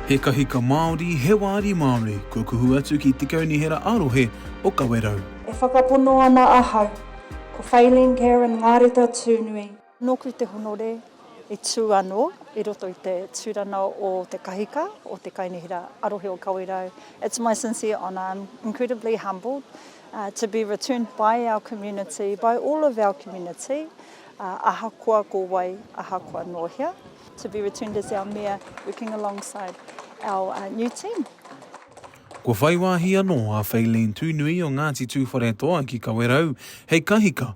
He kahika Māori, he wāri Māori, kua kuhu atu ki te Kaunihera ā-Rohe o Kawerau. E whakapono ana ahau, ko Faylene Karen Ngareta Tūnui. Nōku te honore i tū anō i roto i te tūrana o te kahika, o te kainihera arohe o Kawerau. It's my sincere honour, I'm incredibly humbled to be returned by our community, by all of our community, ahakoa ko wai, ahakoa nō hea, to be returned as our Mayor working alongside our new team. Kua whai wāhi anō a Feileen Tūnui o Ngāti Tūwharetoa ki Kawerau hei kahika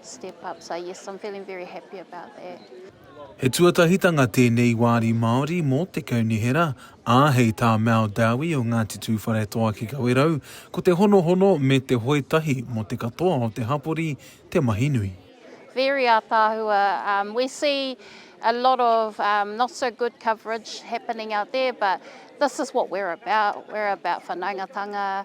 step up so yes I'm feeling very happy about that. He tuatahitanga tēnei wāri Māori mō te kaunihera, ā, hei tā Mal Dowie o Ngāti Tūwharetoa ki Kawerau, ko te honohono me te hoe tahi mō te katoa o te hapori te mahi nui. Very ataahua, um, we see a lot of um, not so good coverage happening out there, but this is what we're about, we're about whanaungatanga,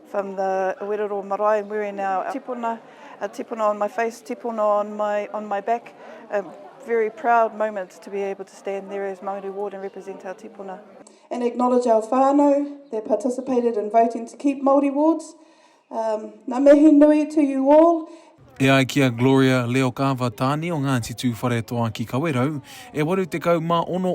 From the Werero Marae, I'm wearing our tipuna, a tipuna on my face, tipuna on my on my back. A very proud moment to be able to stand there as Mauri Ward and represent our tipuna. And acknowledge our whānau that participated in voting to keep Māori wards. Um, ngā mihi nui to you all. E ai ki a Gloria Leokava Tāne o Ngāti Tūwharetoa ki Kawerau, e 86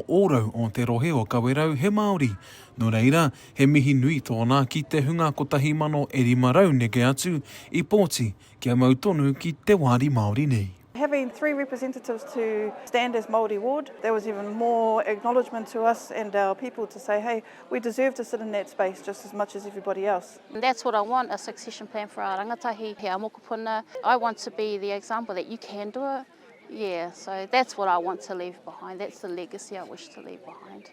ōrau o te rohe o Kawerau he Māori. Nō reira, He mihi nui tōna ki te hunga kotahi mano e rima rau neke atu i pōti kia mau tonu ki te wāri Māori nei. Having three representatives to stand as Māori ward, that was even more acknowledgement to us and our people to say, hey, we deserve to sit in that space just as much as everybody else. And that's what I want, a succession plan for our rangatahi, he our mokopuna. I want to be the example that you can do it. Yeah, so that's what I want to leave behind, that's the legacy I wish to leave behind.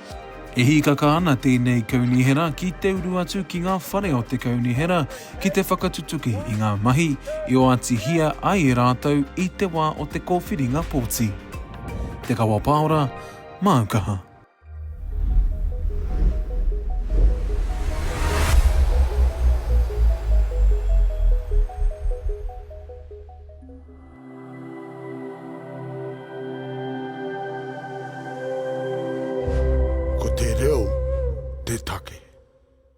E hīkaka ana tēnei kaunihera ki te uru atu ki ngā whare o te kaunihera ki te whakatutuki i ngā mahi i oatihia ai e rātou i te wā o te kōwhiringa pōti. Te Kawa Paora, māu kaha. Ko te reo te take.